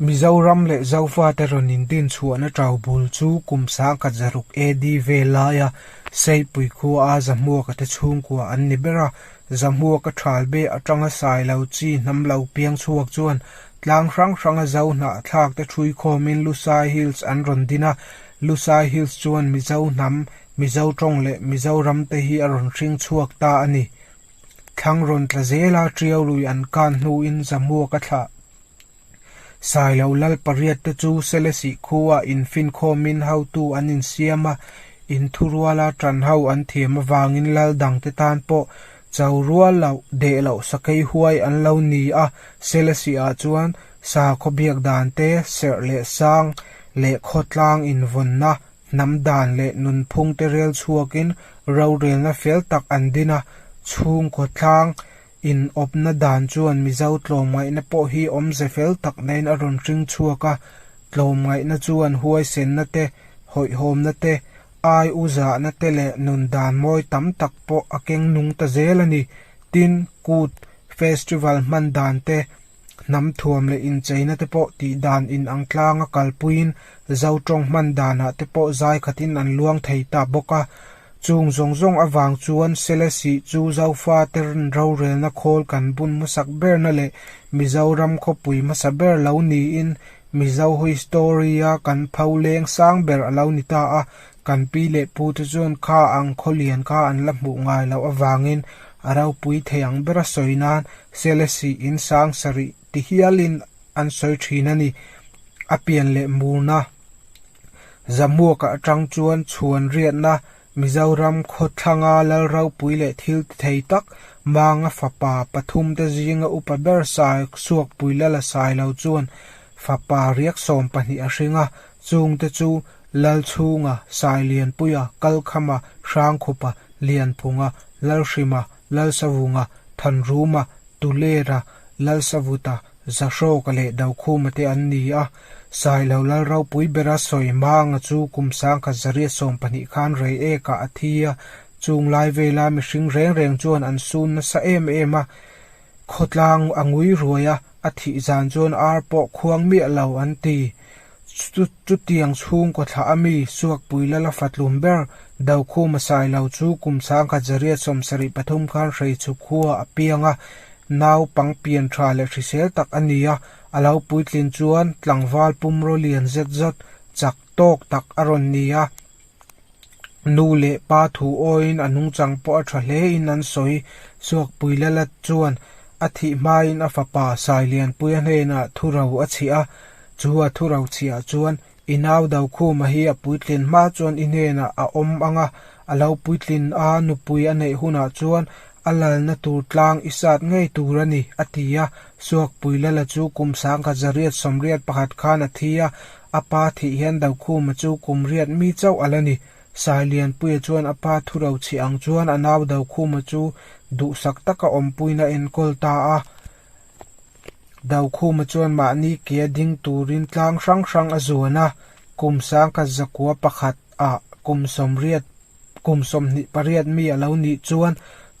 Mizoram leh Zofa te rawn in din chhuahna tau bul chu kum sangkhat zaruk AD vel laia Seipui khua a Zahmuaka te chhungkua an ni ber a. Zahmuaka thalbe atanga sai lo chi hnam lo piang chhuak chuan tlang hrang hranga zo hnah thlak te thui khawmin Lusai Hills an rawn din a. Lusai Hills chuan Mizo hnam, Mizo tawng leh Mizoram te hi a rawn hring chhuak ta a ni. Thlang rawn tla zela ṭiaurui an kan hnuin Zahmuaka thlah. Sailo lal pariat te chu Selesih khua in finkhawmin hotu an insiam a, in thu rual a ṭan ho an thiam avangin lal dangte tan pawh cho rual loh, deh loh sakei huai an lo ni a. Selesih ah chuan sa khawbiak dan te, serh leh sang leh khaw tlang invawnna, hnam dan leh nun phung te rel chhuakin rorelna fel tak an din a, chhungkaw tlang Inawpna dan chuan Mizo tlawmngaihna pawh hi awmze fel tak nen a rawn hring chhuak a, tlawmngaihna chuan huaisenna te, hawihhawmna te, ai u zahna te leh nun dan mawi tam tak pawh a keng nung ta zel a ni. Tin, kut, festival hman dan te, hnamthuam leh incheina te pawh tih dan in ang tlang a kalpuiin zo tawng hman danah te pawh zai khatin an luang thei ta bawk a. Chung zawng zawng avang chuan Selesi chu Zofa te rorelna khawl kan bun hmasak berna leh Mizoram khawpui hmasa ber lo niin Mizo history-a kan pho leng sang ber a lo ni ta a. Kan pi leh pu te chuan kha ang khawlian kha an la hmuh ngai loh avangin a ropui thei ang ber a sawi nan Celesi in sang sarih ti hial in an sawi thin a ni. A pian leh murna Zamuaka atang chuan chhuan riatna Mizoram khawthlanga Lalropui leh thilti thei tak Manga fapa pathum te zinga upa ber sa suakpui la la sai lo chuan fapa riak sawm pahnih a hring a Chung te chu Lalchhunga, Sailianpuia, Kalkhama, Hrangkhupa, Lianphunga, Lalhrima, Lalsavunga, Thanruma, Tulera, Lalsavuta, Zahrawka leh Daukhuma te an ni a. Sailo Lalropui bera sawi hmanga chu kum sangkhat zariat sawm pahnih khan rei ekah a thi a. Chunglai vela mihring reng reng chuan an sun nasa em em a. Khawtlang a ngui ruai a, a thih zan chuan ar pawh khuang miah lo an ti. Chu chutiang chhungkaw thlah a mi Suakpui Lala Fatlum ber Dokhum a sai lo chu kum sangkhat Zariat Sawmsarih pathum khan hreichhuk khuaa a piang a, naupang pianṭha leh hrisel tak a ni a, a lo puitlin chuan tlangval pum raw lian zet zawt chak tawk tak a rawn ni a. Nu leh pa thu awiin a nungchang pawh a tha hle in an sawi. Suakpui Lalat chuan a thih hmain a fapa Sailianpuia hnenah thu ro a chhia. Chu a thu ro chhiah chuan i nau do khuma hi a puitlin hma chuan i hnenah a awm ang a, a lo puitlin a, nupui a neih hunah chuan a lalna tur tlang i sat ngei tur a ni, a ti a. Suakpui Lala chu kum sangkhat zariat sawmriat pakhat khan a thi a. A pa theih hian Daukhuma chu kum riat mi chauh a la ni. Sailianpuia chuan a pa thu ro chhi ang chuan a nau Daukhuma chu duhsak taka awmpuiin a enkawl ta a. Daukhuma chuan mahni ke a ding turin tlang hrang hrang a zuan a. Kum sangkhat zakua pakhat ah kum sawmriat Kum sawmhnih pariat mi a lo nih chuan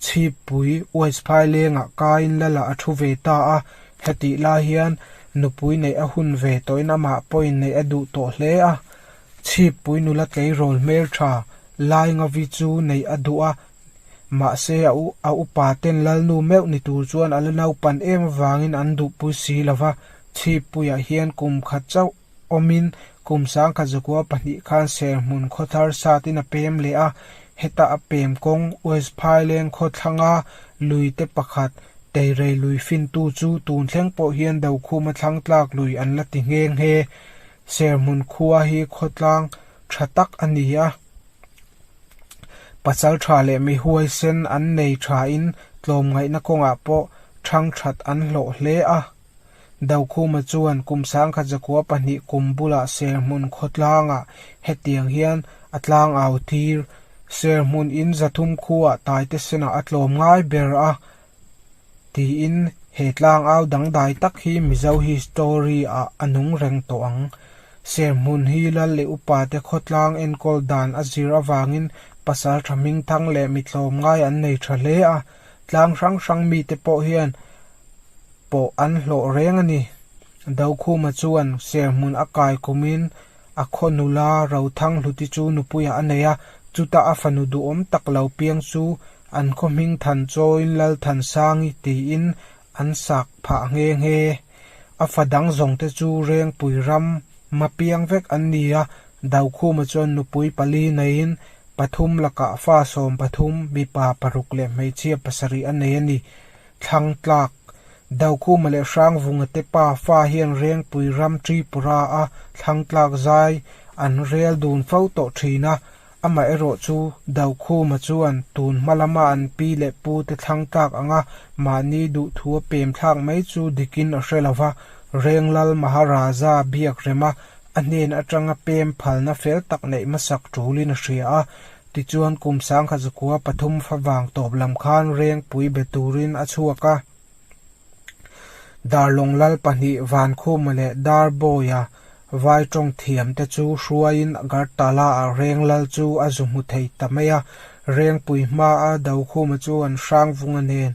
Chhipui Uaisphai lengah kaiin Lala a thu ve ta a, hetih lai hian nupui neih a hun ve tawhin amah pawhin neih a duh tawh hle a. Chhipui nula tleirawl hmeltha Laingavi chu neih a duh a, mahse a upa ten lalnu meuh ni tur chuan a la naupan em avangin an duhpui si lo va, Chhipuia hian kum khat chauh awmin kum sangkhat zakua pahnih khan serhmun khaw thar satin a pem leh a, heta a pem kawng West Phaileng khawthlanga luite pakhat teirei lui fintu chu tun thleng pawh hian Dokhuma thlangtlak lui an la ti nghe nghe. Serhmun khua hi khawtlang tha tak a ni a, pachal tha leh mi huaisen an nei thain tlawmngaihna kawngah pawh thangthat an hlawh hle a. Dokhuma chuan kum sangkhat zakua pahnih kum bulah serhmun khawtlangah hetiang hian a tlang au tir, serhmun in zathum khuaa taite senah a tlawm ngai ber a, tiin he tlang au dangdai tak hi Mizo history ah a nung reng tawh ang. Serhmun hi Lal leh upa te khawtlang enkawl dan a zir avangin pasal tha hmingthang leh mitlawm ngai an nei tha hle a, Tlang hrang hrang mite pawh hian pawh an hlawh reng a ni. Dokhuma chuan serhmun a kaikumin a khaw nula Rothang Hluti chu nupuiah a nei a, chuta a fanu duhawm tak lo piang chu an khaw hming than chawiin Lalthansang-i tiin An sak phah nghe nghe. A fa dang zawng te chu Rengpui ram mapiang vek an ni a, Daukhuma chuan nupui pali neiin pathum lakah fa sawm pathum, mipa paruk leh hmeichhia pasarih a nei a ni. Thlangtlak, Daukhuma leh Hrangvunga te pa fa hian Rengpui ram Tripura a Thlangtlak zai an rel dun fo tawh thin a, Amah erawh chu Daukhuma chuan tun hma lama an pi leh pu te thlang tlak ang a, mahni duhthu a pem thlak mai chu dikin a hre lo va, Renglal Maharaja biak rem a, a hnen atanga pem phalna fel tak neih hmasak tulin a hria a. Tichuan kum sangha zakua pathum fa vang tawp lam khan rengpui be turin a chhuak a, Darlonglal pahnih Vankhuma leh Darbawi-a Vai Tawngthiam te chu hruaiin Agartala ah reng lal chu a zu hmu thei ta mai a, rengpui hma a do khuma chu an hrang vung a nen.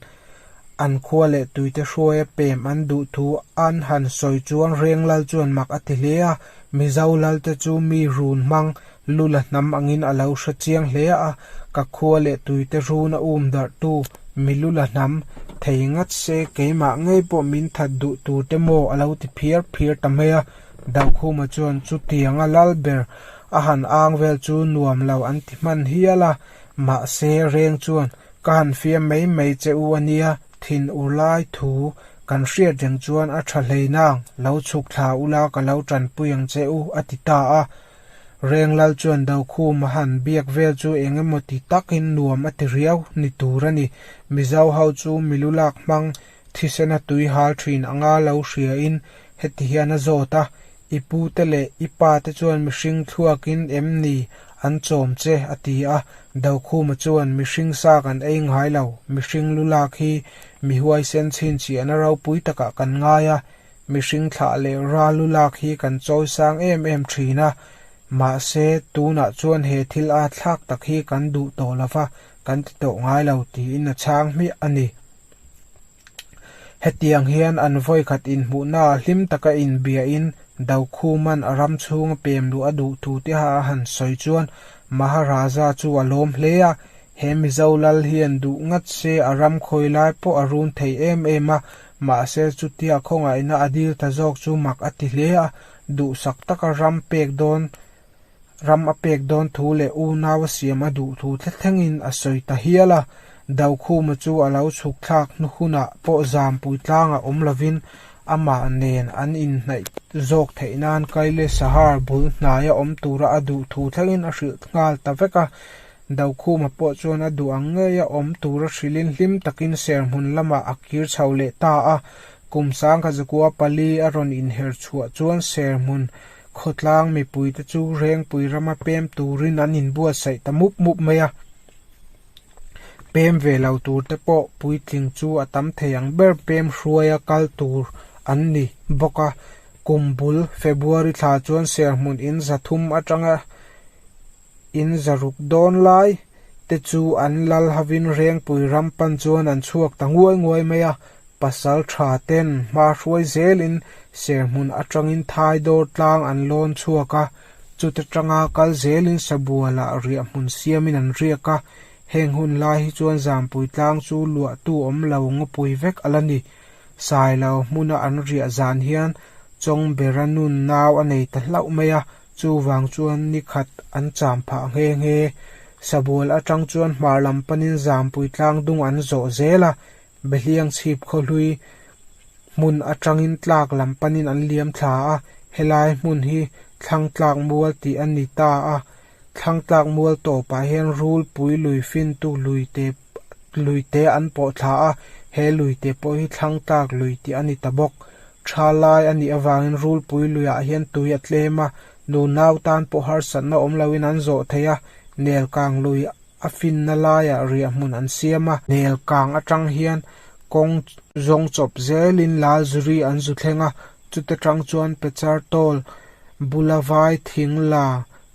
An khua leh tuite hruai a pem an duh thu an han sawi chuan reng lal chuan mak a ti hle a, Mizo lal te chu mi run hmang Nula hnam angin a lo hre chiang hle a, ka khua leh tuite run a um darhtu mi lula hnam, thei ngat se keimah ngei pawh min that duh tur te maw a lo ti phiar phiar ta mai a. Daukhuma chuan chutianga lal ber a han ang vel chu nuam lo an ti hman hial a, mahse reng chuan ka han fiam mai mai che u a nia, thin ur lai thu kan hriat reng chuan a tha hlein ang, lo chhuk thla ula ka lo tanpui ang che u a ti ta a. Renglal chuan Dokhum a han biak vel chu eng emaw ti takin nuam a ti riau ni tur a ni. Mizo ho chu milu lak hmang thisen a tui hal thin anga lo hria in heti hian a zawt a, I pu te leh i pa te chuan mihring thluakin em ni an chawm che a ti a, Dokhum a chuan mihring sa kan ei ngai lo, mihring lu lak hi mi huaisen chhinchhiahna ropui takah kan ngai a, Mihring thlah leh rallu lak hi kan chawisang em em thin a, mahse tunah chuan he thil a thlak tak hi kan duh tawh lova, kan ti tawh ngai lo, tiin a chhang hmiah a ni. Hetiang hian an vawikhat inhmuhna a hlim taka inbiahin Doukhuman a ram chhunga pem luh a duh thu te a han sawi chuan Maharaja chu a lawm hle a, he Mizo lal hian duh ngat se a ram khawi lai pawh a run thei em em a, Mahse, chutia khawngaihna a dil ta zawk chu mak a ti hle a, duhsak taka ram pek dawn, ram a pek dawn thu leh unau a siam a duh thu thle thlengin a sawi ta hial a. Daukhuma chu a lo chhuk thlak hnu hunah pawh zampui tlangah awm lovin amah nen an inhnaih zawk theih nan Kaileshahar bul hnaia awm tura a duh thu thlengin a hrilh nghal ta vek a. Dokhuma pawh chuan a duh ang ngei a, awm tura hrilhin hlim takin serhmun lamah a kir chho leh ta a. Kum sangkhat zakua pali a rawn inher chhuah chuan serhmun khawtlang mipuite chu rengpui rama pem turin an inbuatsaih ta mup mup mai a. Pem ve lo turte pawh puitling chu a tam thei ang ber pem hruaia kal tur an ni bawk a. Kum bul February thla chuan serhmun in zathum atanga-- in zaruk dawn lai te chu an lal hovin rengpui ram pan chuan an chhuak ta nguai nguai mai a, pasal tha ten hmahruai zelin serhmun atangin thai dawr tlang an lawn chhuak a, chute tanga kal zelin sabualah riah hmun siamin an riak a, heng hun lai hi chuan zanpui tlang chu luahtu awm lo ngawpui vek a la ni, sailo hmuna an riah zan hian chawng bera nun nau a nei ta hlauh mai a. Chuvang chuan ni khat an cham phah nghe nghe. Sabual atang chuan hmar lam panin zampui tlang dung an zawh zel a, behliang chhip khaw hlui hmun atangin tlak lam panin an liam thla a. Helai hmun hi Thlangtlak Mual tih a ni ta a, Thlangtlak Mual tawpah hian rulpui lui fintu lui te luite an pawh thla a, he luite pawh hi thlangtlak lui tih a ni ta bawk. Tha lai a nih avangin rulpui luiah hian tui a tlem a, nunau tan pawh harsatna awm loin an zawh thei a, nel kang lui a finna laiah riahmun an siam a, nel kang atang hian kawng zawng chawp zelin lal zuri an zu thleng a, chuta tang chuan pechar tawl bula vai thing la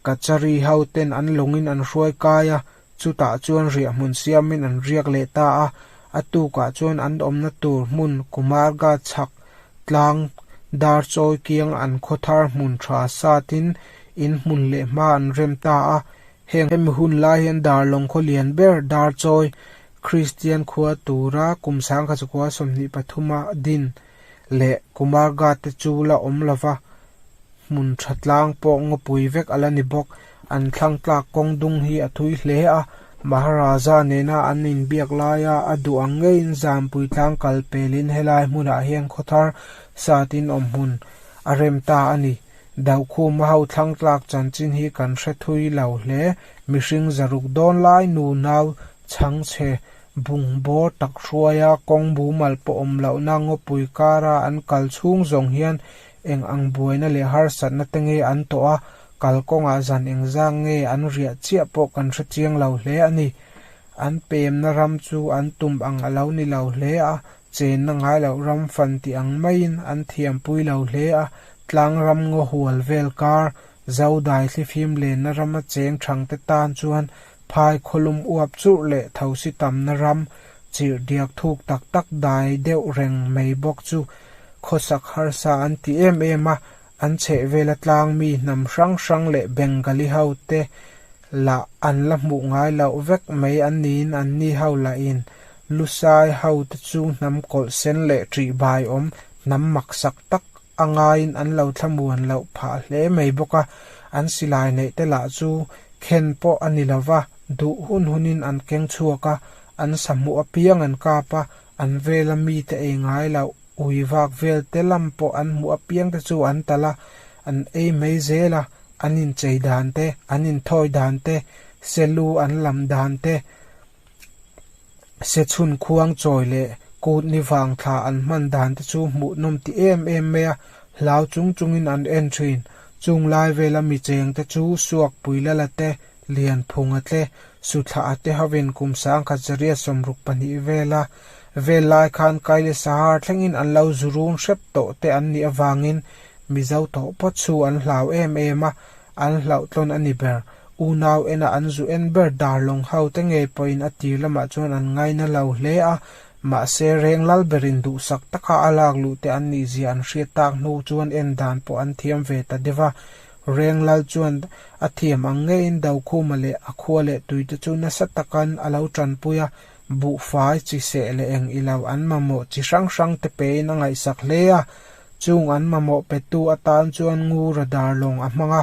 kachari ho ten an lawngin an hruai kai a, Chutah chuan riah hmun siamin an riak leh ta a, a tukah chuan an awmna tur hmun Kumarga chhak tlang dar chawi kiang an khaw thar hmun tha satin in hmun leh hma an rem ta a. Heng hemi hun lai hian Darlawng khaw lian ber dar chawi Kristian khua tura kum sangkhat khua sawmhnih pathuma din leh Kumar Guard te chu la awm lo va, hmun tha tlang pawh ngawpui vek a la ni bawk. An thlangtlak kawng dung hi a thui hle a, Maharaja nena an inbiak lai a, a duh ang ngeiin zanpui tlang kal pelin helai hmunah hian khawthar satin awm hmun a rem ta a ni. Daukhuma ho thlangtlak chanchin hi kan hre thui lo hle, mihring zaruk dawn lai nu nau chhang chhe Bung bawr tak hruaia kawng bumal pawh awm lohna ngawpui kara an kal chhung zawng hian eng ang buaina leh harsatna te nge an tawh a, kal kawngah zan eng zang nge an riah chiah pawh kan hre chiang lo hle a ni. An pemna ram chu an tum ang a lo ni lo hle a, chenna ngai loh ram fan tih ang maiin an thiampui lo hle a, tlang ram ngaw hual vel kar Zaudai thlifim lenna ram a cheng thangte tan chuan phai khawlum uap churh leh thosi tamna ram chirh diak thuk tak tak dai deuh reng mai bawk chu khawsak harsa an ti em em a, an chhehvela tlang mi hnam hrang hrang leh Bengali hote lah an la hmuh ngai loh vek mai an niin an ni ho lah in Lusai hote chu hnam kawlh sen leh ṭihbai awm hnam maksak tak a ngaiin an lo thlamuan loh phah hle mai bawk a, an silai neih te lah chu khen pawh a ni lova, duh hun hunin an keng chhuak a, an sahmuh apiang an kap a, an vela mite ei ngai loh ui vak vel te lam pawh an hmuh apiang te chu an tal a, an ei mai zel a, an inchei dan te, an inthawi dan te, selu an lam dan te, Sechhun khuang chawi leh kutni vang thla an hman dan te chu hmuh nawm ti em em mai a, hlau chung chungin an en thin. Chung lai vela mi cheng te chu suak pui la la te, lian phung a tle, su thlah a te hovin kum sangkhat zariat sawmruk pahnih vel a vel lai khan kai leh sahar thlengin an lo zu rung hrep tawh te an nih avangin mizo tawh pawt chu an hlau em em a, an hlauhtlawn a ni ber. Unau ena an zu en ber dar lawng haute ngei pawhin a tir lamah chuan an ngai nalo hle a, mahse reng lal berin duhsak taka a lak luhte an nih zia an hriat tak hnu chuan en dan pawh an thiam ve ta deuh va, reng lal chuan a thiam ang ngeiin Dokhuma leh a khua leh tuite chu nasa takan a lo tanpui a, Buhfai, chi seh leh eng ilo an mamawh chi hrang hrang te pein a ngaihsak hle a, chung an mamawh petu atan chuan Ngura dar lawng a hmang a,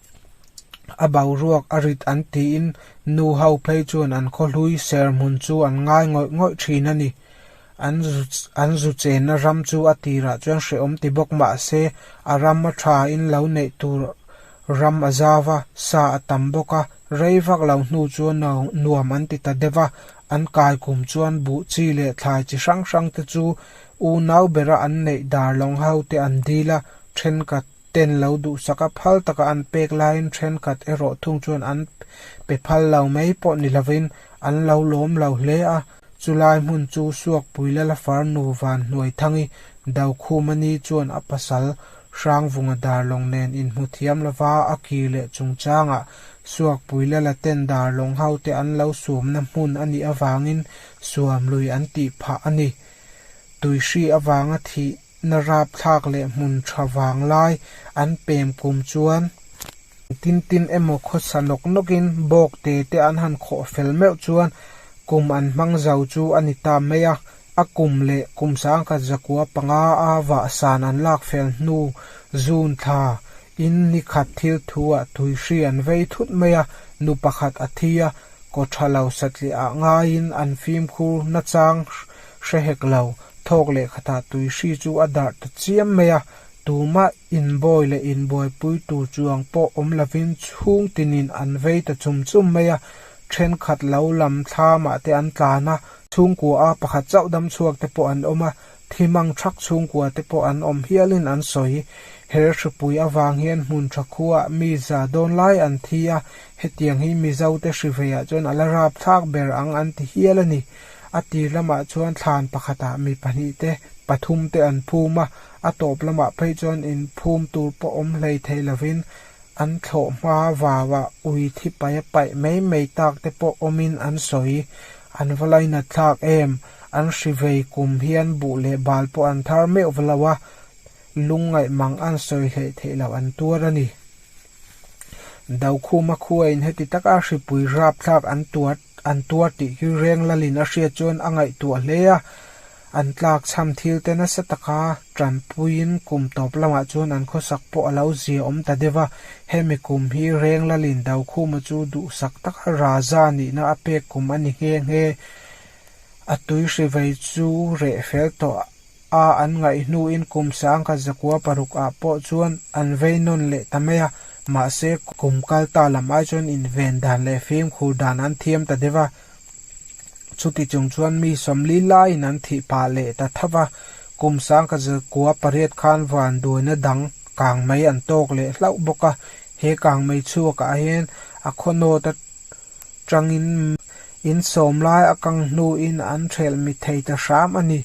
a boruak a rit an tiin nu ho phei chuan an khawhlui serhmun chu an ngai ngawih ngawih thin a ni. An zu an zu chenna ram chu a tirah chuan hrehawm ti bawk mah se, a ram a tha in lo neih tur ram a zau va, sa a tam bawk a, rei vak lo hnu chuan no nuam an ti ta deuh va, an kaikum chuan buh chi leh thlai chi hrang hrang te chu unau berah an neih dar lawng ho te an dil a, thenkhat. ten lo duhsak a, phal taka an pek laiin thenkhat erawh thung chuan an pe phal lo mai pawh ni lovin an lo lawm lo hle a. Chu lai hmun chu Suakpui Lala far nu Vanhnuaithangi Daukhû Mani chuan a pasal Hrangvunga Darlawng nen inhmu thiam lova a ki leh chungchangah Suakpui Lala ten Darlawng hote an lo sawmna hmun a nih avangin suam lui an tih phah a ni. Tui hri avanga thih Na rapthlak leh hmun tha vang lai an pem kum chuan. Tin tin emaw khawsa nawk nawk in bawk te te an han khawh fel meuh chuan kum an hmang zo chu a ni ta mai a. A kum leh kum sangkhat zakua panga a vahsan an lak fel hnu June thla Tin, ni khat thil thu ah tui hri an vei thut mai a, nu pakhat a thi a, Kaw tha lo satliah ah ngai in an fimkhur nachang hre hek lo, thawk leh khat ah tui hri chu a darh ta chiam mai a, tumah inbawi leh inbuaipui tur chuang pawh awm lo in chhung tin in an vei ta chum chum mai a, thenkhat lo lam thlam ah te an tlan a, chhungkua a pakhat chauh dam chhuak te pawh an awm a, Thim ang thak chhungkua te pawh an awm hialin an sawi. Her hripui avang hian hmun tha khuaah mi za dawn lai an thi a, hetiang hi Mizote hriveia chuan a la rap thlak ber ang an ti hial a ni. A tir lamah chuan thlan pakhatah mi pahnih te, pathum te an phum a, a tawp lamah phei chuan inphum tur pawh awm hlei theih lovin an thlawh hma vava ui thi paia paih mai mai tak te pawh awmin an sawi. An va lainat thlak em? An hri vei kum hi an buh leh bal pawh an thar meuh va lo a, lung ngaih mang an sawi hleh theih loh an tuar a ni. Daukhuma khu a in heti tak a, hripui rapthlak an tuar an tuar tih khi reng lal in a hriat chuan a ngaihtuah hle a, an tlak chham thil te nasa taka tanpui in kum tawp lamah chuan an khawsak pawh a lo zia awm ta deuh a, hemi kum hi reng lal in Daukhuma chu duhsak taka Raja nihna a pek kum a ni nghe nghe. A tui hri vei chu reh fel tawh a, an ngaih hnuin kum sang kha zakua paruk ah pawh chuan an vei nawn leh ta mai a, mahse kum kal ta lam ai chuan inven dan leh fimkhur dan an thiam ta deuh a, chuti chung chuan mi sawmli laiin an thih pah leh ta thap a, kum sang kha zakua pariat khan vanduaina dang kangmei an tawk leh hlauh bawk a, he kangmei chhuak ah hian a khawnawt a. Tangin in sawm lai a kang hnuin an hrelh mi thei ta hram a ni.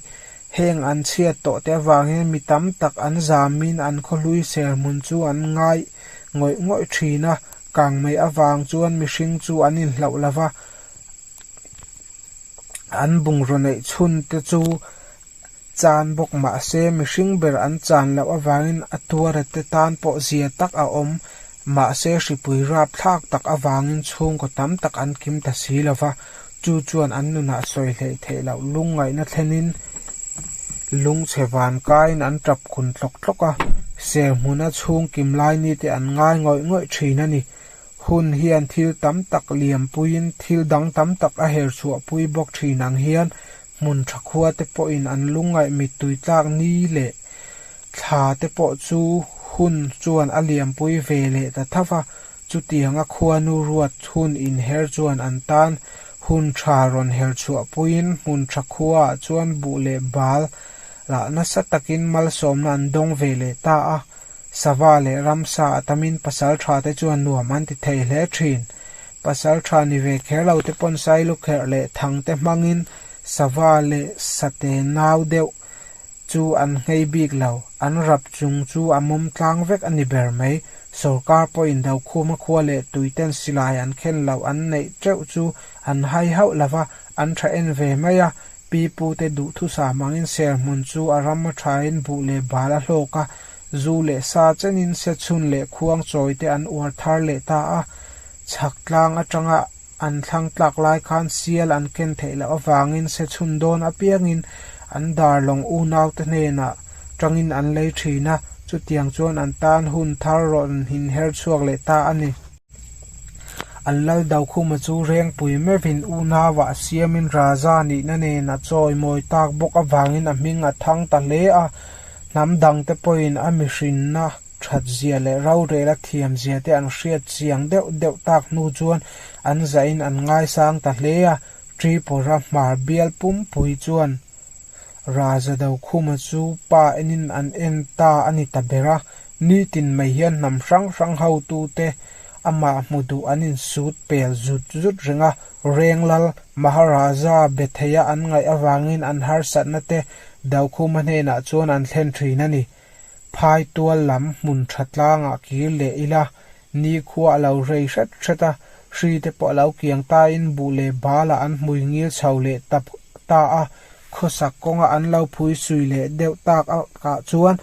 Heng an chhiat tawh te avangin mi tam tak an zamin an khawhlui serhmun chu an ngai ngawih ngawih thin a. Kang mai avang chuan mihring chu an inhlauh lo va, an bungraw neih chhunte chu. chan bawk mahse, mihring ber an chan loh avangin a tuara te tan pawh zia tak a awm. Mahse, hripui rapthlak tak avangin chhungkaw tam tak an kim ta si lo va, chu chuan an nunah sawi hleih theih loh lungngaihna thlenin lungchhe van kaiin an tap kun tlawk tlawk a. Serhmuna chhungkim lai mite an ngai ngawih ngawih thin a ni. Hun hian thil tam tak liam puiin thil dang tam tak a herchhuah pui bawk thin ang hian Hmun tha khua te pawhin an lungngaih mittui tlak ni leh thla te pawh chu hun chuan a liampui ve leh ta thap a, chutianga khuanu ruat hun inher chuan an tan hun tha rawn her chhuah puiin hmun tha khuaah chuan buh leh bal lah nasa takin malsawmna an dawng ve leh ta a, sava leh ramsa a tamin pasal thate chuan nuam an ti thei hle thin. Pasal tha ni ve kher lo te pawn sai lukherh leh thang te hmangin sava leh sate ngau deuh chu an nghei bik lo. An rap chung chu a mawm tlang vek a ni ber mai. Sorkar pawhin Daukhuma khua leh tuiten silai an khen loh an neih teuh chu an hai hauh lo va, an tha en ve mai a. Pi pute duhthusam angin serhmun chu a ram a thain buh leh bal a hlawk a, Zu leh sa chenin sechhun leh khuang chawite an uar thar leh ta a. Chhak tlang atanga an thlang tlak lai khan sial an ken theih loh avangin sechhun dawn apiangin an darlawng unaute hnenah tangin an lei thin a, chutiang chuan an tan hun thar rawn inher chhuak leh ta a ni. An lal dau khuma chu rengpui mevin unauah siamin Raza nihna nen a chawimawi tak bawk avangin a hming a thang ta hle a. Hnam dangte pawhin a mihrinna thatzia leh rorela thiamzia te an hriat chiang deuh deuh tak hnu chuan an zahin an ngaisang ta hle a. Tripura hmar bial pumpui chuan Raza do khuma chu pa enin an en ta a ni ta ber a, nitin mai hian hnam hrang hrang ho tu te amah hmu duh an in sut pel zut zut reng a, Renglal, Maharaja, Betheia an ngaih avangin an harsatna te do khuma hnenah chuan an thlen thin a ni. Phaitual lam hmun tha tlangah kir leh ila nikhua a lo rei hret hret a, hri te pawh a lo kiang tain buh leh balah an hmui ngil chho leh tap ta a, khawsak kawnga an lo phui sui leh deuh tak akah chuan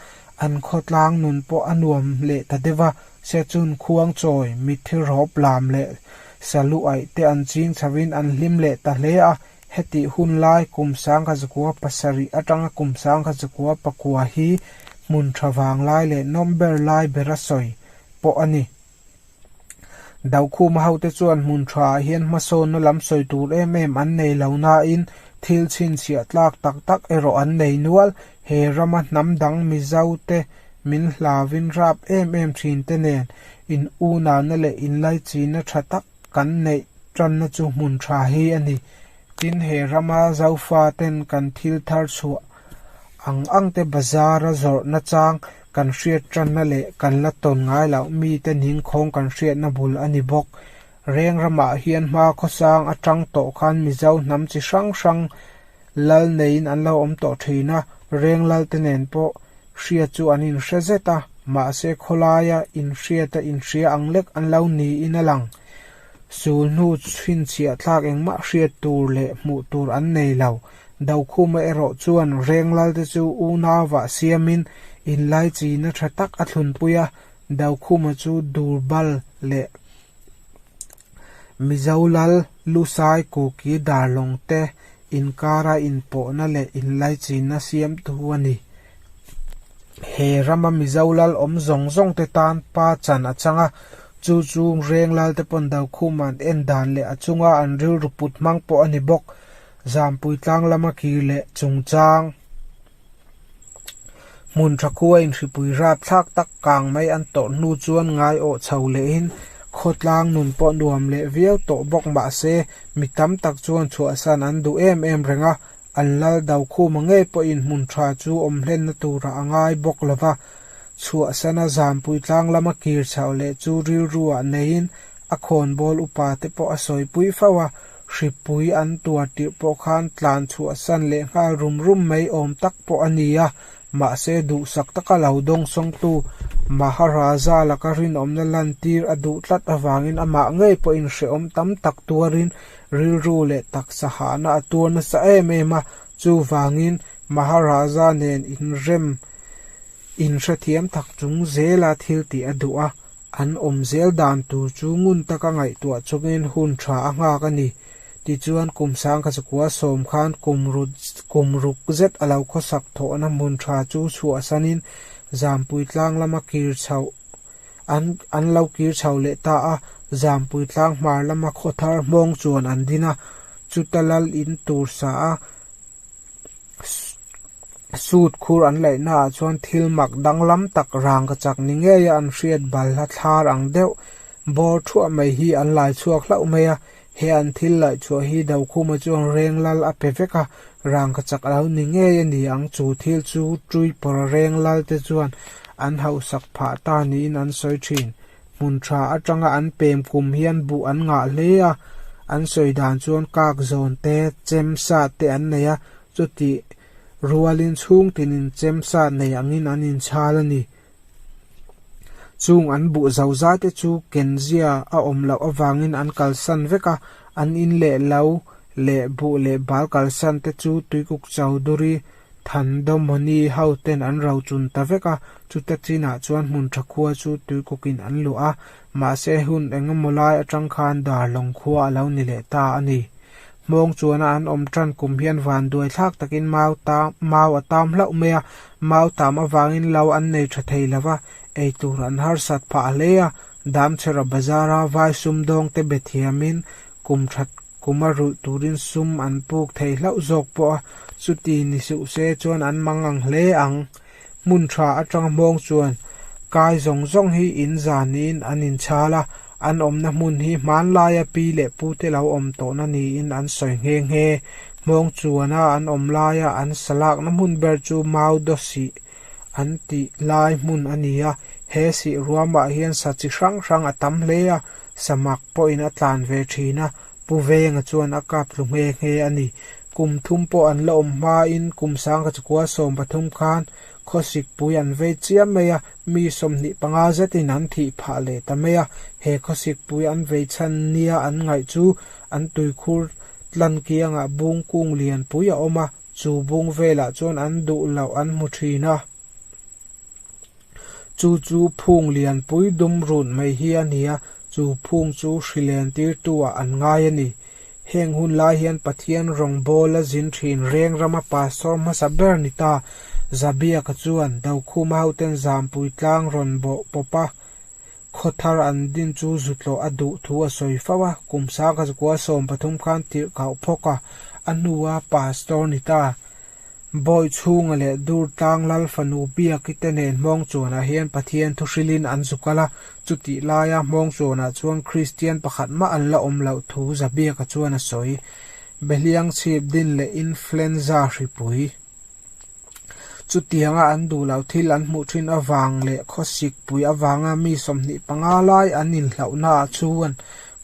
an khawtlang nun pawh a nuam leh ta deuh a, sia chun khuang chawi, mitthil rawp lam leh salu aih te an ching chhoin an hlim leh ta hle a, Hetih hun lai kum sangha zakua pasarih atanga kum sangha zakua pakua hi hmun tha vang lai leh nawm ber lai bera sawi pawh a ni. Daukhuma hote chuan hmun tha ah hian hmasawnna lam sawi tur em em an nei lo nain thil chhinchhiah tlak tak tak erawh an nei nual. He rama hnam dang Mizo te min hlavin rap em em thin te nen in unana leh in laichina tha tak kan neih tanna chu hmun tha hi a ni. Tin, he rama Zofaten kan thil thar chhuah ang angte bazara zawrhna chang kan hriat tanna leh kan la tawn ngai loh mite ning khawng kan hriatna bul a ni bawk. Reng ramah hian hma khawsang atang tawh khan Mizo hnam chi hrang hrang, Lal neiin an lo awm tawh thin a, Renglal-te nen pawh hria chu an inhria zet a, mahse khawlaia inhriata inhria ang lek an lo niin a lang. Sul hnu fin chhiahthlak engmah hriat tur leh hmuh tur an nei lo. Dokhuma erawh chuan Renglalte chu unauvah siamin inlaichina tha tak a thlunpui a, Dokhuma chu dur bal leh Mizo Lal, Lusai, Kuki, Darlawng te inkara inpawhna leh inlaichinna siamtu a ni. He rama Mizo Lal awm zawng zawng te tan Pa Chan a chang a, chu chung Reng Lal te pawn Daukhum an en dan leh a chunga an rilru put hmang pawh a ni bawk. Zampui tlang lama kir leh chungchang. Hmun tha khua inhripui rap thlak tak kang mai an tawrh hnu chuan ngai awh chho lehin khawtlang nun pawh nuam leh viau tawh bawk mah se mi tam tak chuan chhuahsan an duh em em reng a, an lal do khuma ngei pawhin hmun tha chu awm hlenna turah a ngai bawk lo va. Chhuahsana zanpui tlang lama kir chhoh leh chu rilru ah neiin a khawnbawl upa te pawh a sawi pui fo a. Hripui an tuar tirh pawh khan tlan chhuahsan leh nghal rum rum mai awm tak pawh a ni a, mahse duhsak taka lo dawng sawngtu Maharaja laka rinawmna lantir a duh tlat avangin amah ngei pawh inhrehawm tam tak tuarin rilru leh taksa hahna a tuar nasa em em a, chuvangin Maharaja nen inrem inhrethiam tak chung zela thiltih a duh a. An awm zel dan tur chu ngun taka ngaihtuah chungin hun tha a nghak a ni. Tichuan kum sangkhasakual sawm khan kum rut kum ruk zet a lo khawsak thawhna hmun tha chu chhuahsanin Zampui tlang lama kir chho an an lo kir chho leh ta a, Zampui tlang hmar lama khawthar hmawng chuan an din a, chuta lal in tur sa a. Suit khur an laih na ah chuan thil mak danglam tak rangka chak ni ngei a an hriat bal a thlar ang deuh bawr thuah mai hi an lai chhuak hlauh mai a he an thil laih chhuah hi do khuma chuan reng lal a pe vek a rangka chak lo ni ngei a ni ang chu thil chu tui pawra reng lal te chuan an hauh sak phah ta niin an sawi thin. Hmun tha atanga an pem kum hi an buh an ngah hle a, an sawi dan chuan kak zawn te, chem sat te an nei a, chutih rualin chhung tin in chem sat nei angin an in chhal a ni. Chung an buh zo za te chu ken zia a awm loh avangin an kalsan vek a, an in leh lo leh buh leh bal kalsan te chu Tuikuk Chowdhury Thandawm mawni hoten an ro chun ta vek a, chuta chinah chuan hmun tha khua chu tui kukin an luah a, mahse hun engemaw lai atang khan Darhlawng khua a lo ni leh ta a ni. Hmawng chuana an awm tan kum hian van duaithlak takin mau tam, mau a tam hlauh mai a, mau tam avangin lo an nei tha thei lo va, ei tur an harsat phah hle a, Damchhera bazar a vai sumdawngte be thiamin Kum that kum a rulh turin sum an puk thei hlauh zawk pawh a, chuti ni suh se chuan an mang ang hle ang. Hmun tha atanga hmawng chuan kai zawng zawng hi in zanin an inchhal a, an awmna hmun hi hmanlaia pi leh pute lo awm tawhna niin an sawi nghe nghe. Hmawng chuana an awm laia an sa lakna hmun ber chu Maudo sih an tih lai hmun a ni a, he sih ruamah hian sa chi hrang hrang a tam hle a, Samak pawhin a tlan ve thin a, Pu Venga chuan a kap tlu nghe nghe a ni. Kum thum pawh an la awm hmain kum sangka chu kua sawm pathum khan khawsikpui an vei chiah mai a, mi sawmhnih panga zetin an thih phah leh ta mai a, he khawsikpui an vei chhan nia an ngaih chu an tuikhur tlan kiangah bung kung lianpui a awm a, chu bung velah chuan an duh loh an hmu thin a. Chu chu phung lianpui dum run mai hi a ni a, chu phung chu hri len tir tu ah an ngai a ni. Heng hun lai hian Pathian rawngbâwl a zin ṭhin reng rama pastor hmasa ber ni ta Zabiaka chuan Dokhuma hoten zampui tlang rawn bawh pawp a, khaw thar an din chu zu tlawh a duh thu a sawi fo a, kum sangkhaza kual sawm pathum khan tirh kau phawk a, a hnu a pastor ni ta. Bawiht chhunga leh dur tlang lal fanu biak te nen hmawng chuanah hian Pathian thu hrilhin an zu kal a. Chutih laia hmawng chuanah chuan Kristian pakhat mah an la awm loh thu za biaka chuan a sawi. Behliang chhip din leh influenza hripui. Chutianga an duh loh thil an hmuh thin avang leh khawsikpui avanga mi sawmhnih panga lai an inhlauhnaah chuan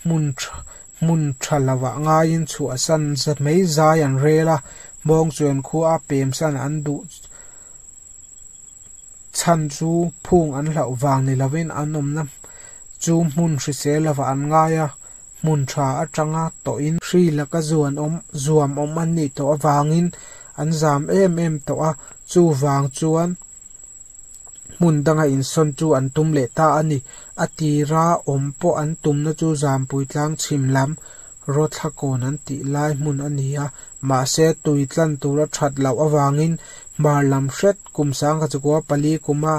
hmun tha, Hmun tha lovah ngaiin chhuahsan za mai zai an rel a, Mawngchuan khuaa pemsan an duh chhan chu phung an hlauh vang ni lovin an awmna chu hmun hrisel lovah an ngai a, hmun tha atanga tawhin. Hri laka zuan awm zuam awm a nih tawh avangin an zam em em tawh a, chuvang chuan. hmun danga insawn chu an tum leh ta a ni. A tir a awm pawh an tumna chu Zampuitlang chhim lam Rothlakawn an tih lai hmun a ni a, mahse tui tlan tur a that loh avangin hmar lam hret Kumsangkachakua pali kuma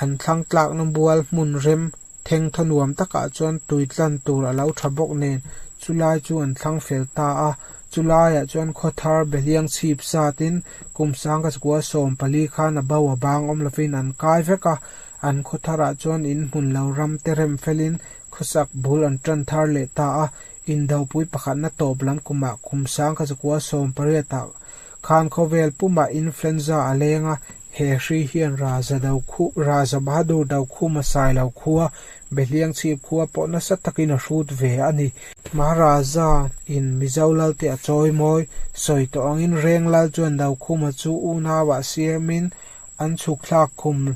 an thlangtlakna bual hmun rem Thengthaw nuam takah chuan tui tlan tur a lo tha bawk nen, chu lai chu an thlang fel ta a. Chu laiah chuan khawthar beliang chhip zatin Kumsanga Chakua sawm pali khan a bo a bang awm lovin an kai vek a. An khawtharah chuan in hmun lo ram te rem felin khawsak bul an tan thar leh ta a. Indopui pakhatna tawp lam kumah Kumsanga Chakua sawm pariatah, Khan khawvel pumah influenza a leng a, he hri hian Raza do khu, Raza Bahadur do khu Masai lo khua, Behliang chhip khua pawh nasa takin a hrut ve a ni. Maharaza in Mizo lal te a chawi mawi, sawi tawh angin Reng lal chuan do khuma chu unau ah siam in an chhuk thlak khum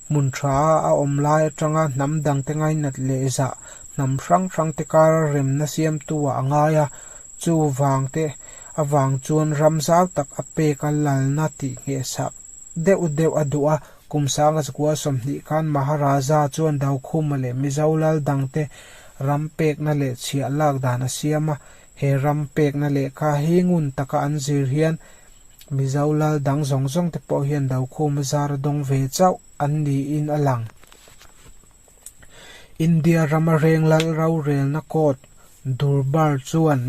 Hmun tha a awm lai atanga hnam dangte ngainat leh zah hnam hrang hrangte kara remna siamtuah a ngai a. Chuvangte avang chuan ram zau tak a pek a lalna tihnghehsak deuh deuh a duh a. Kum sanga chakua sawmhnih khan Maharaja chuan Daukhuma leh Mizo lal dangte ram pekna leh chhiah lak dan a siam a. He ram pekna lehkha hi ngun taka an zir hian Mizo lal dang zawng zawng te pawh hian Dokhum a zar a dawng ve chauh an niin a lang. India rama reng lal rorelna court, Durbar chuan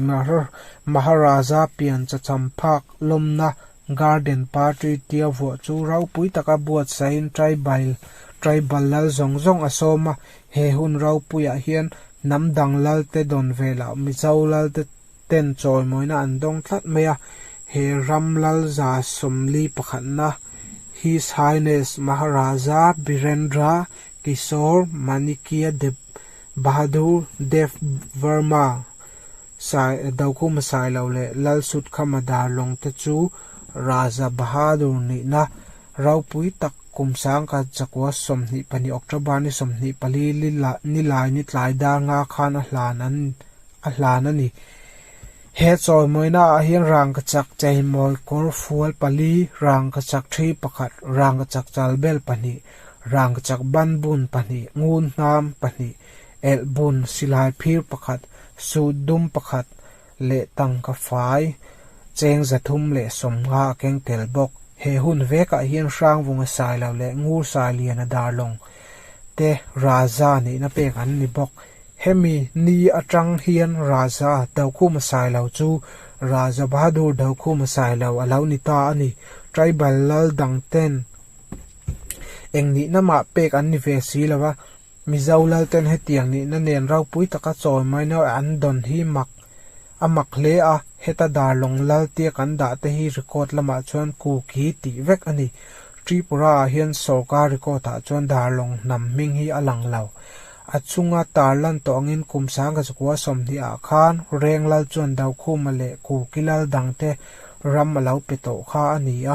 Maharaja pian chacham phak lawmna Garden party tia vuah chu ropui taka buatsahin tribile tribal lal zawng zawng a sawm a, he hun ropuiah hian hnam dang lalte dawn ve lah Mizo lalte ten chawimawina an dawng tlat mai a, he ram lalza sawmli pakhatna His Highness Maharaja Birendra Kishore Manikya Deb Bahadur Dev Verma, Sai, Doku Masailo leh Lalsutkham a dar lawng te chu Raza Bahadur nihna ropui tak kum sangka chakua sawmhnih pahnih October-ni sawmhnih pali ni lai ni tlai dar nga khan a hlan an a hlan a ni. He chawimawina ah hian rangka chak cheimawi kawr fual pali, rangka chak thi pakhat, rangka chak chalbel pahnih, rangka chak banbun pahnih, ngun hnam pahnih, elh bun silai phir pakhat, suit dum pakhat leh tangka fai cheng za thum leh sawmnga a keng tel bawk. He hun vekah hian Hrangvunga Sailo leh Ngursai Liana Darlawng te Raza nihna pek an ni bawk. Hemi ni atang hian Raza Dokhuma Sailo chu Raza Bahadur Dokhuma Sailo a lo ni ta a ni. Tribal lal dang ten eng nihna mah pek an ni ve si lo a, Mizo Lalten hetiang nihna nen ropui taka chawi mai na an dawn hi mak a mak hle a, heta Darlong Lal tia kan dah te hi record lamah chuan Kuki tih vek a ni. Tripura ah hian sawrkar record ah chuan Darlong hnam hming hi a lang lo. A chunga tar lan tawh angin kum sangha zakua sawmhnih ah khan Renglal chuan Daukhuma leh Kuki Lal dang te ram a lo pe tawh kha a ni a,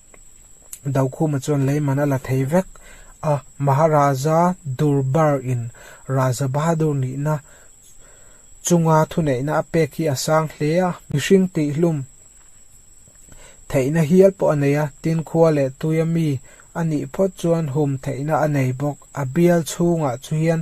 Daukhuma chuan leiman a la thei vek a, Maharaja Durbar in Raja Bahadur nihna chunga thuneihna a pek hi a sang hle a, mihring tihhlum theihna hial pawh a nei a, tin khua leh tuia mi a nih phawt chuan hum theihna a nei bawk. A bial chhungah chu hian.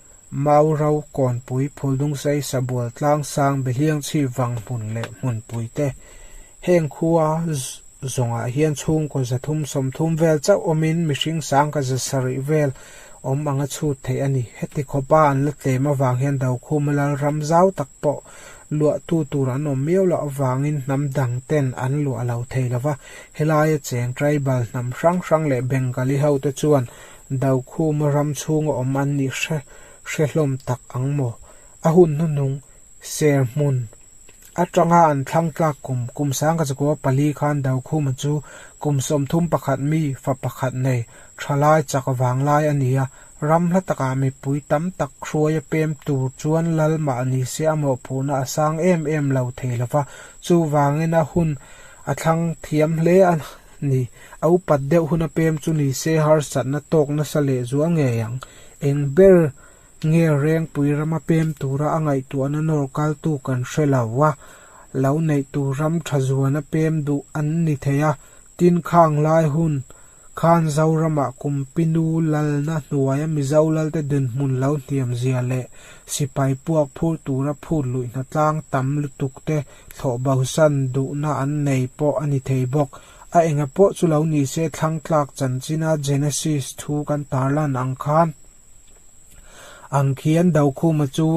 Mau ro, Kawnpui, Phuldungsei, Sabual, Tlangsang, Behliang chhip vang hmun leh hmunpui te. Heng khua zawngah hian chhungkaw zathum sawmthum vel chauh awmin mihring sangka za sarih vel awm anga chhut theih a ni. Heti khawpa an la tlem avang hian Daukhuma Lalram zau tak pawh luahtu tur an awm miau loh avangin hnam dang ten an luah lo thei lova. Helaia cheng tribal hnam hrang hrang leh Bengali hote chuan. Daukhuma ram chhunga awm an nih hre hre hlawm tak ang maw? A hun hnunung, ser hmun, atanga an thlangtlak kum, kum sangka chu kaw pali khan Daukhuma chu kum sawmthum pakhat mi, fa pakhat nei, tha lai chak vang lai a ni a. Ram hla takah mipui tam tak hruai a pem tur chuan lal mah ni se a mawhphurhna a sang em em lo thei lova, chuvangin a hun a thlang thiam hle a. Ni. A upat deuh huna pem chu ni se harsatna tawk nasa leh zual ngei ang. Eng ber nge rengpui rama pem tura a ngaihtuahna nawr kaltu kan hre lo a, lo neih tur ram tha zuana pem duh an ni thei a. Tin, khang lai hun khan Zorama kum pi nu lalna hnuaia Mizo lalte dinhmun lo hniam zia leh sipai puak phur tura phut luihna tlang tam lutuk te Thlawh bosan duhna an nei pawh a ni thei bawk. A enga pawh chu lo ni se, thlangtlak chanchin-a Genesis thu kan tarlan ang khan, ang khian Daukhuma chu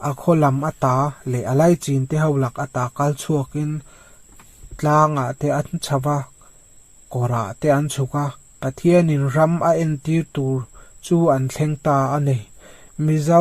a khawlam a ta leh a lai chinte ho lak a ta kal chhuakin tlangah te an chhava, kawrah te an chhuk a, Pathianin ram a entir tur chu an thleng ta a ni. Mizo.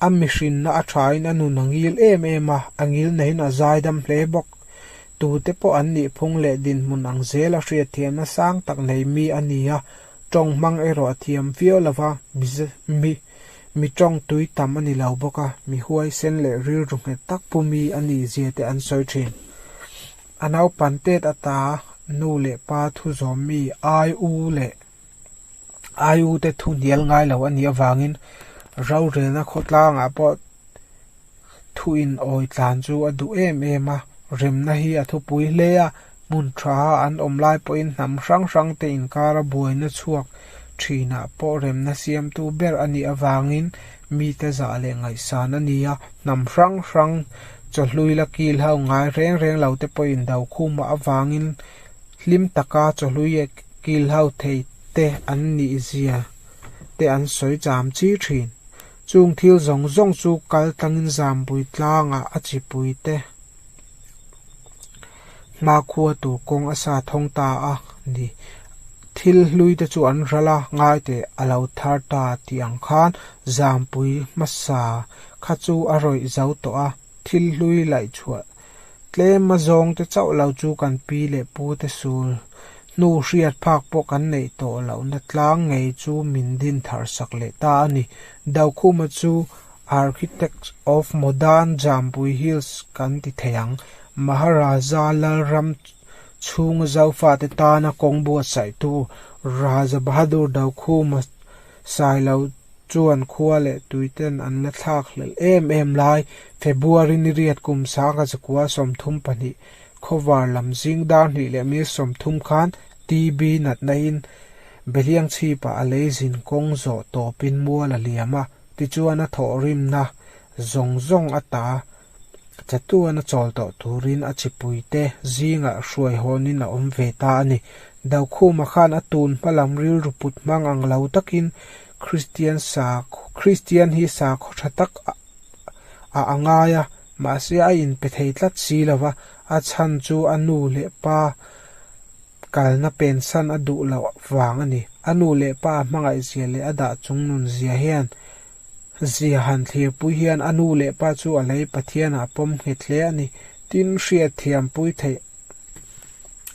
A mihrinna a thain a nun a ngil em em a, a ngil neiin a zaidam hle bawk. Tute pawh an nihphung leh dinhmun ang zel a hriat theih nasang tak nei mi a ni a, tawng hmang erawh a thiam viau lo va, mize, mi, mi tawng tui tam a ni lo bawk a, mi huaisen leh rilru nghet tak pu mi a ni zia te an sawi thin. A naupan tet ata nu leh pa thu zawm mi ai u leh. IU-te thu hnial ngai lo a nih avangin rorelna khawtlangah pawh thu inawih tlan chu a duh em em a, remna hi a thupui hle a, hmun tha an awm lai pawhin hnam hrang hrangte inkar a buaina chhuak thinah pawh remna siamtu ber a nih avangin mite zah leh ngaihsan a ni a, hnam hrang hrang chawhlui la kil ho ngai reng reng lote pawhin Dokhum-ah avangin hlim taka chawhluia kil ho thei te an nih zia te an sawi cham chi thin. Chung thil zawng zawng chu kal tangin zambui tlanga a chipui te hma khua tur kawng a sa thawng ta a ni. Thil hlui te chu an hral a, ngaite a lo thar ta tih ang khan zambui hmasa kha chu a rawih zo tawh a, thil hlui laih chhuah Tlema zawng te chauh lo chu kan pi leh pu te sul hnu hriat phak pawh kan neih tawh loh na tlang ngei chu min din thar sak leh ta a ni. Daukhuma chu Architects of Modern Jampui Hills kan ti thei ang. Maharaja Lalram chhunga zaufa te tana kawng buatsaihtu Raja Bahadur Daukhuma Sailo chuan khua leh tuiten an la thlak hlelh em em lai. February niriat kum sanga zakua sawmthum pahnih khawvar lam zing dar hnih leh mil sawmthum khan TB natnain Beliang chhipah a lei zin kawng zawh tawpin mual a liam a, tichuan a thawhrimna zawng zawng a ta Chatuan a chawl tawh turin a chipui te zingah hruai hawnin a awm ve ta a ni. Daukhuma khan a tun hma lam rilru put hmang ang lo takin Kristian sa Kristian hi sa khaw tha tak ah a ngai a, mahse a inpe thei tlat si lo va, a chhan chu a nu leh pa kalna pensan a duh loh vang a ni. A nu leh pa a hmangaihzia leh a dah chung nunzia hian Zia han thlirpui hian a nu leh pa chu a lei Pathianah pawm nghet hle a ni. Tin, hriatthiam pui theih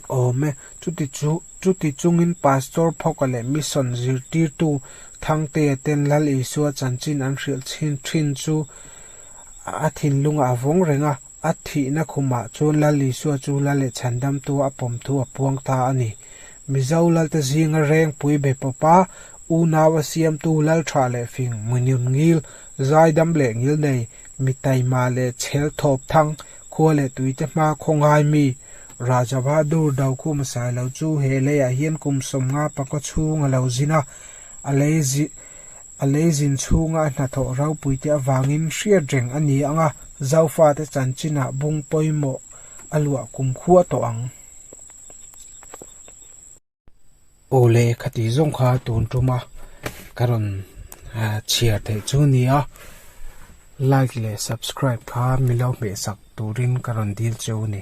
awm e. Chuti chu, chuti chungin Pastor Phoka leh Mission zirtirtu Thangtea ten Lal Isua chanchin an hrilh chin thin chu a thinlunga a vawng reng a. A thihna khumah chuan Lal Isua chu Lal leh chhandamtu a pawm thu a puang ta a ni. Mizo Lalte zinga rengpui be pawpa unau a siamtu Lal tha leh fing, muinun ngil, zaidam leh ngilnei, mi taima leh chhel thawp thang, khua leh tuite hma khawngai mi, Rajabahadur Daukhu Masai lo chu he leiah hian kum sawmnga panga chhung a lo zin a, a lei zin A lei zin chhunga a hnathawh ropuite avangin hriat reng a ni ang a, Zofate chanchinah bung pawimawh a luah kum khuah tawh ang. Aw le, kha tih zawng kha tun tuma ka rawn chhiar theih chu a ni a, like leh subscribe kha milo hmehsak turin ka rawn dil che u ni.